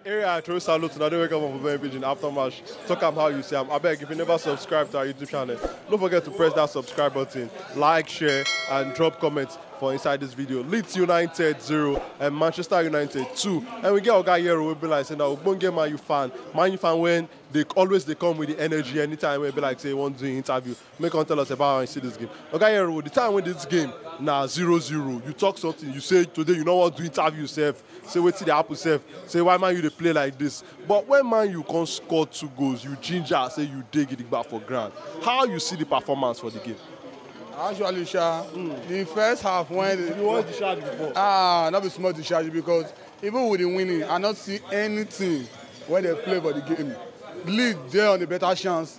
Area I throw salute to Nade wake up on Bobby Pigeon after match. Talk am how you see am. Abeg, if you never subscribe to our YouTube channel, don't forget to press that subscribe button, like, share, and drop comments for inside this video. Leeds United 0 and Manchester United 2. And we get Oga Yero will be like saying that Ogbonge Man U fan. Man U fan when they always they come with the energy anytime we be like say one doing interview. Make come tell us about how you see this game. Oga Yero, the time when this game na zero zero, you talk something, you say today you no wan do interview sef, say wetin dey happen sef, say why man you dey play like this. But when man you come score two goals, you ginger say you dey gidigba for ground. How you see the performance for the game? Actually, Sha, mm. the first half when you want to charge before. Ah, not be small to charge because even with the winning, I not see anything when they play for the game. Lead there on the better chance.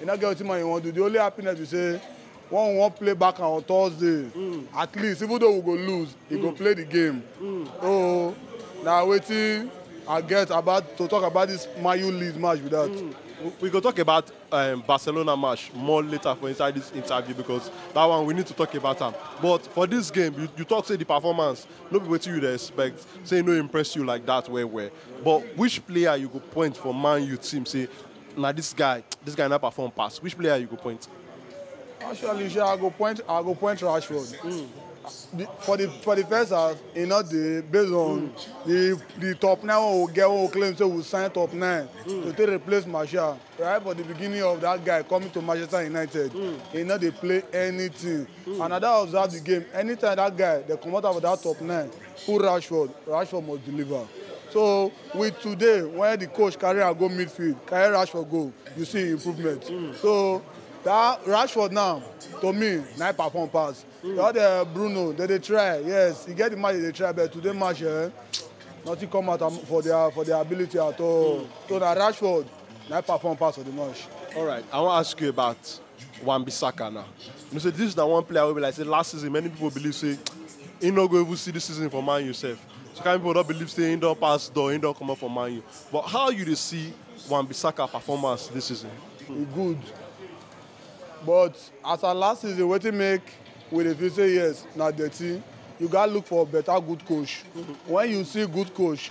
E no get wetin man you wan do. The only happiness be say when we wan play Barca on Thursday, mm. at least even though we go lose, he mm. go play the game. Mm. So na wetin I get about to talk about this Man U Leeds match be that. Mm. We go talk about um, Barcelona match more later for inside this interview because that one we need to talk about am. But for this game, you, you talk say the performance, no be wetin you dey expect, say no impress you like that well well. But which player you go point for Man U team say Na this guy this guy na perform pass, which player you go point? Actually sha, I go point I go point Rashford. The, for the for the first half, e no dey based on the the top nine wey we get wey we claim say we sign top nine to take replace Martial. Right for the beginning of that guy coming to Manchester United, e no dey play anything. And I don observe the game, anytime that guy dey comot am for that top nine, Put Rashford, Rashford must deliver. So with today, when the coach carry am go midfield, carry Rashford go, you see improvement. Mm. So that Rashford now, to me, na perform pass. Mm. That uh, Bruno, they dey try, yes, he get the match they dey try, but today match, eh, nothing come out for their for their ability at all. Mm. So na Rashford, na perform pass for the match. All right, I wan ask you about Wan Bissaka now. You know say this na one player wey be like say last season many people believe say he no go even see this season for Man U sef. So kind people don believe say he don pass door, he don comot for Man U. But how you dey see Wan Bissaka performance this season? e good but as at last season wetin make we dey feel say yes na dirty you gats look for better good coach when you see good coach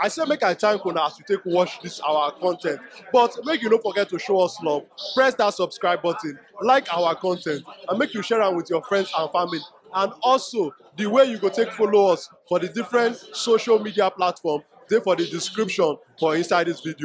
I say make I thank una as you take watch this our content, but make you no forget to show us love. Press that subscribe button, like our content, and make you share am with your friends and family. And also, the way you go take follow us for the different social media platform, dey for the description for inside this video.